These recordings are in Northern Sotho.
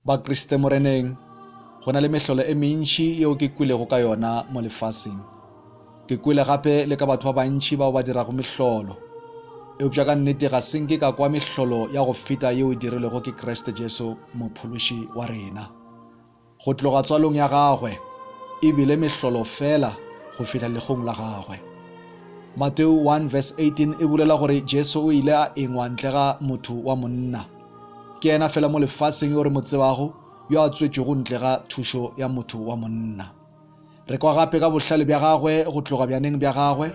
Bakriste Moreneng, go na le mehlolo e mentši yeo ke kwelego ka yona mo lefaseng. Ke kwele gape le ka batho ba bantši bao ba dirago mehlolo. Eupša ka nnete ga se nke ka kwa mehlolo ya go feta yeo e dirilwego ke Kriste Jesu Mophološi wa rena. Go tloga tswalong ya gagwe, e bile mehlolo feela go fihla legong la gagwe. Mateo 1 verse 18 e bolela gore Jesu o ile a engwa ntle ga motho wa monna. Ke yena fela mo lefaseng yo re mo tsebago yo a tswetšwego ntle ga thušo ya motho wa monna. Re kwa gape ka bohlale bja gagwe go tloga bjaneng bja gagwe,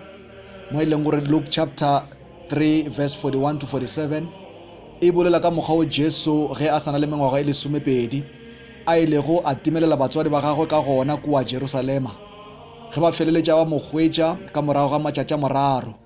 mo e leng gore Luke chapter 3 verse 41 to 47 e bolela ka mokgwa o Jesu ge a sa na le mengwaga e lesomepedi a ilego a timelela batswadi ba gagwe ka gona kua Jerusalema ge ba feleletša ba mo hwetša ka morago ga matšatša moraro.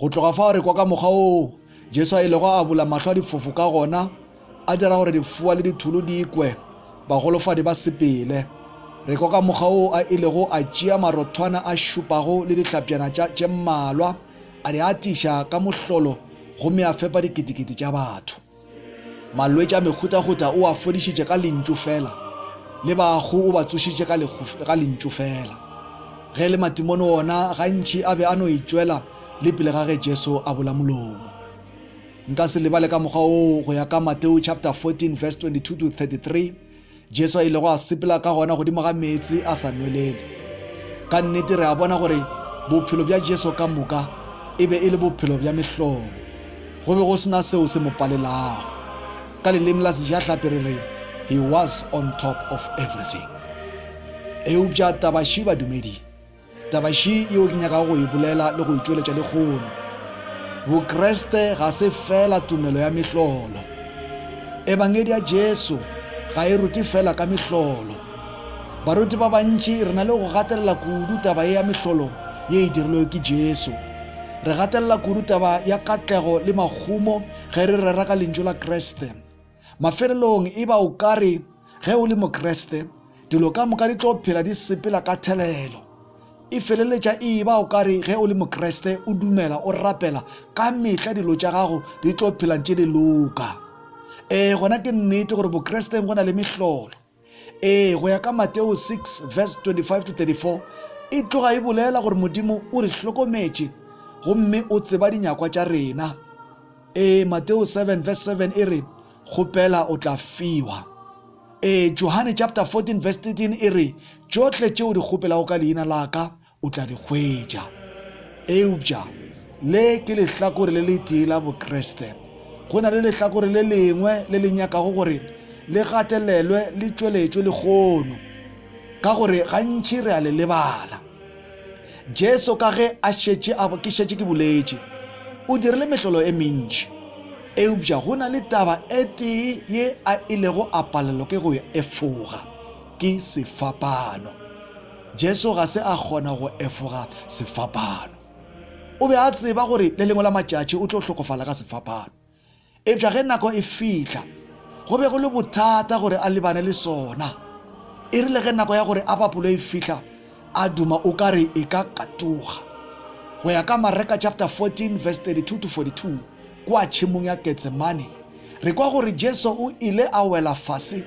Go tloga fao re kwa ka mokgwa woo Jesu a ilego a bula mahlo a difofu ka gona, a dira gore difoa le dithulu di ikwe, bagolofadi ba sepele. Re kwa ka mokgwa woo a ilego a tšea marothwana a šupago le dihlapjana tša tše mmalwa, a di atiša ka mohlolo gomme a fepa diketekete tša batho. Malwetši a mehutahuta o a fodišitše ka Lentšu feela, le bahu o ba tsošitše ka, ka Lentšu feela. Ge e le matimone ona, gantši a be a no itšwela le pele ga ge Jesu a bula molomo. Nka se lebale ka mokgwa woo go ya ka Mateo chapter 14 verse 22 to 33, Jesu a ilego a sepela ka gona godimo ga meetse a sa nwelele. Ka nnete re a bona gore bophelo bja Jesu ka moka e be e le bophelo bja mehlolo. Go be go se na seo se mo palelago. Ka leleme la Sejahlapi re re, He was on top of everything. Eupša taba še badumedi. Taba še yeo ke nyakago go e bolela le go e tšweletša lehono, Bokriste ga se feela tumelo ya mehlolo. Ebangedi ya Jesu ga e rute feela ka mehlolo. Baruti ba bantši re na le go gatelela kudu taba ye ya mehlolo ye e dirilwego ke Jesu. Re gatelela kudu taba ya katlego le mahumo ge re rera ka Lentšu la Kriste. Mafelelong e ba o ka re ge o le Mokriste, dilo ka moka di tlo phela di sepela ka thelelo. E feleletša e ba o ka re ge o le Mokriste o dumela, o rapela, ka mehla dilo tša gago di tlo phela ntše di loka. Ee, gona ke nnete gore Bokresteng go na le mehlolo. Ee, go ya ka Mateo 6 verse 25-34, e tloga e bolela gore Modimo o re hlokometše gomme o tseba dinyakwa tša rena. Ee, Mateo 7 verse 7 e re, Kgopela o tla fiwa. Ee, Johane chapter 14 verse 13 e re, Tšohle tše o di kgopelago ka leina la ka, O tla di hwetša. Eupša le ke lehlakore le letee la Bokriste. Go na le lehlakore le lengwe le le nyakago gore le gatelelwe le tšweletšwe lehono, ka gore gantši re a le lebala. Jesu ka ge a šetše a, ke šetše ke boletše, o dirile mehlolo e mentši, eupša go na le taba e tee ye a ilego a palelwa ke go e efoga, ke sefapano. Jesu ga se a kgona go efoga sefapano. O be a tseba gore le lengwe la matšatši o tlo hlokofala ka sefapano. Eupša ge nako e fihla, go be go le bothata gore a lebane le sona. E rile ge nako ya gore a bapolwe e fihla, a duma o ka re e ka katoga. Go ya ka Mareka chapter 14 verse 32 to 42, Kua tšhemong ya Getsemane, re kwa gore Jesu o ile a wela fase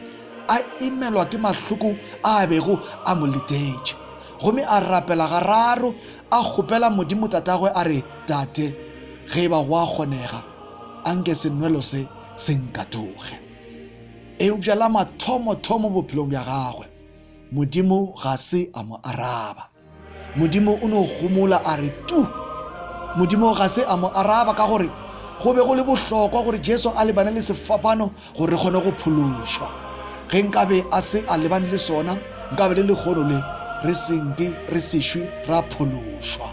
a imelwa ke mahloko a a bego a mo letetše gomme a rapela gararo a kgopela Modimo Tatagwe a re, Tate, ge e ba go a kgonega, a nke senwelo se se nkatoge. Eupša la mathomo-thomo bophelong bja gagwe, Modimo ga se a mo araba. Modimo o no gomola a re, Tu! Modimo ga se a mo araba ka gore go be go le bohlokwa gore Jesu a lebane le sefapano gore re kgone go phološwa. Ge nkabe a se a lebane le sona, nkabe le lehono le re se nke re sešwe ra phološwa.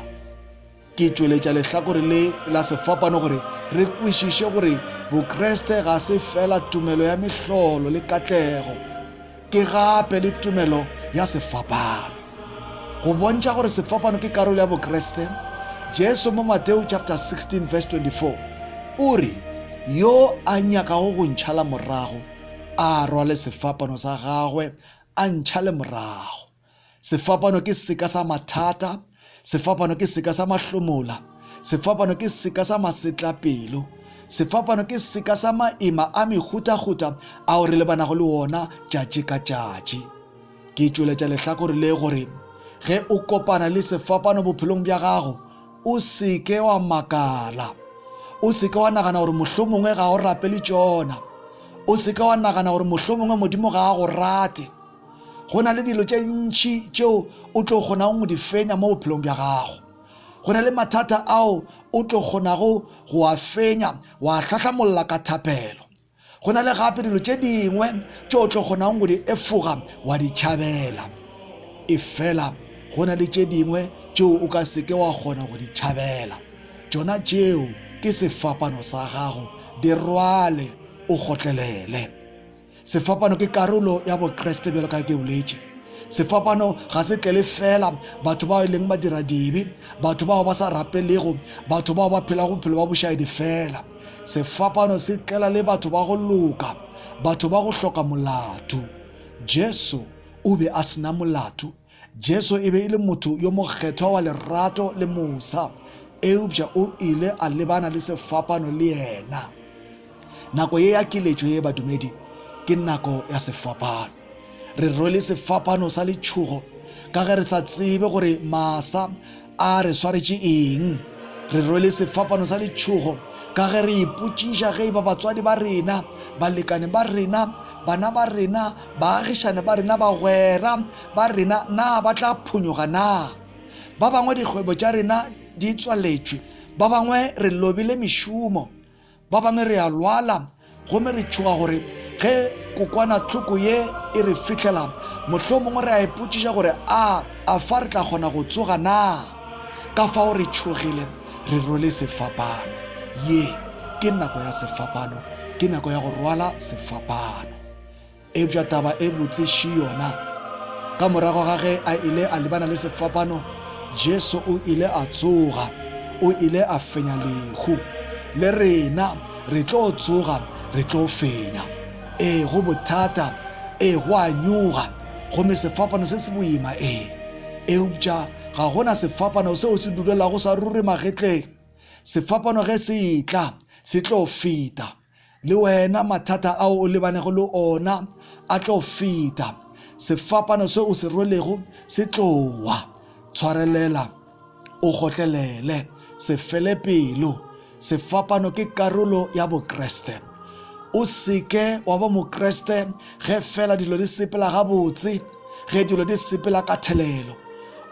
Ke tšweletša lehlakore le la sefapano gore re kwešiše gore Bokreste ga se feela tumelo ya mehlolo le katlego, ke gape le tumelo ya sefapano. Go bontšha gore sefapano ke karolo ya Bokreste, Jesu mo Mateo chapter 16 verse 24 o re, Yo a nyakago go ntšhala morago, a rwale sefapano sa gagwe, a ntšhale morago. Sefapano ke seka sa mathata, sefapano ke seka sa mahlomola, sefapano ke seka sa masetlapelo, sefapano ke seka sa maema a mehutahuta ao re lebanago le wona tšatši ka tšatši. Ke tšweletša lehlakore le gore ge o kopana le sefapano bophelong bja gago, o se ke wa makala. O se ke wa nagana gore mohlomongwe ga o rapele tšona. O se ke wa nagana gore mohlomongwe Modimo ga a go rate. Go na le dilo tše ntši tšeo o tlo kgonago go di fenya mo bophelong bja gago. Go na le mathata ao o tlo kgonago go a fenya wa hlahlamolla ka thapelo. Go na le gape dilo tše dingwe tše o tlo kgonago go di efoga wa di tšhabela. Efela go na le tše dingwe tšeo o ka seke wa kgona go di tšhabela. Tšona tšeo ke sefapano sa gago, di rwale o gotlelele. Sefapano ke karolo ya Bokreste bjalo ka ge ke boletše. Sefapano ga se tlele feela batho bao e leng badiradibe, batho bao ba sa rapelego, batho bao ba phelago bophelo bwa bošaedi feela. Sefapano se tlela le batho ba go loka, batho ba go hloka molato. Jesu o be a se na molato. Jesu e be e le motho yo mokgethwa wa lerato le mosa, eupša o ile a lebana le sefapano le yena. Nako ye ya keletšo ye badumedi ke nako ya sefapano. Re rwele sefapano sa letšhogo ka ge re sa tsebe gore masa A re swaretše eng? Re rwele sefapano sa letšhogo ka ge re ipotšiša ge e ba batswadi ba rena, balekane ba rena, bana ba rena, baagišane ba rena, bagwera ba rena na ba tla phonyoga na. Ba bangwe dikgwebo tša rena di tswaletšwe, ba bangwe re lobile mešomo. Ba bangwe re a lwala gomme re tšhoga gore ge kokwanahloko ye e re fihlela, mohlomongwe re a ipotšiša gore a a fa re tla kgona go tsoga na. Ka fao re tšhogile, re rwele sefapano. Ye ke nako ya sefapano, ke nako ya go rwala sefapano. Eupša taba e botse šii yona, ka morago ga ge a ile a lebana le sefapano, Jesu o ile a tsoga. O ile a fenya lehu. Le rena re tlo tsoga, re tlo fenya. Ee, go bothata. Ee, go a nyoga. Gomme sefapano se se boima, ee. Eupša ga go na sefapano seo se dulelago sa ruri magetleng. Sefapano ge se etla, se tlo feta. Le wena mathata ao o lebanego le ona a tlo feta. Sefapano se o se rwelego se tlo wa. Tshwarelela, o gotlelele, se fele pelo. Sefapano ke karolo ya Bokriste. O se ke wa ba Mokriste ge fela dilo di sepela gabotse, ge dilo di sepela ka thelelo.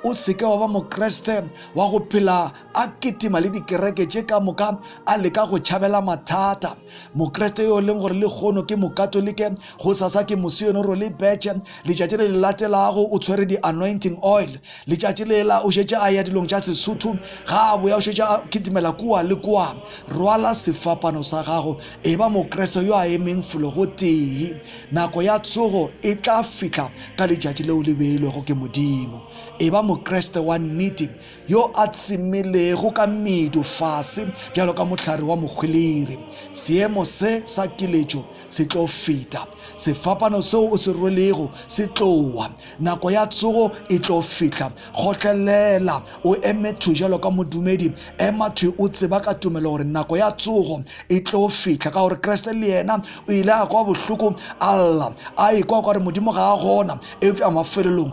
O se ke wa ba Mokriste wa go phela a kitima le dikereke tše ka moka, a leka go tšhabela mathata. Mokreste yo e leng gore lehono ke Mokatolike, gosasa ke mosioenoro le betšhe, letšatši le le latelago o tshwere di-anointing oil. Letšatši lela o šetše a ya dilong tša Sesotho, ga a boya o šetše a kitimela kua le kua. Rwala sefapano sa gago, e ba Mokreste yo a emeng fologotee. Nako ya tsogo e tla fihla ka letšatši leo le beilwego ke Modimo. E ba Mokreste wa nnete, yo a tsemelego ka medu fase bjalo ka mohlare wa mohwelere. Seemo se sa kiletšo se tlo feta. Sefapano seo o se rwelego se tlo wa. Nako ya tsogo e tlo fihla. Kgotlelela, o eme thwi bjalo ka modumedi. Ema thwi o tseba ka tumelo gore nako ya tsogo e tlo fihla, ka gore Kriste le yena o ile a kwa bohloko a lla, a ikwa kwa re Modimo ga a gona, eupša mafelelong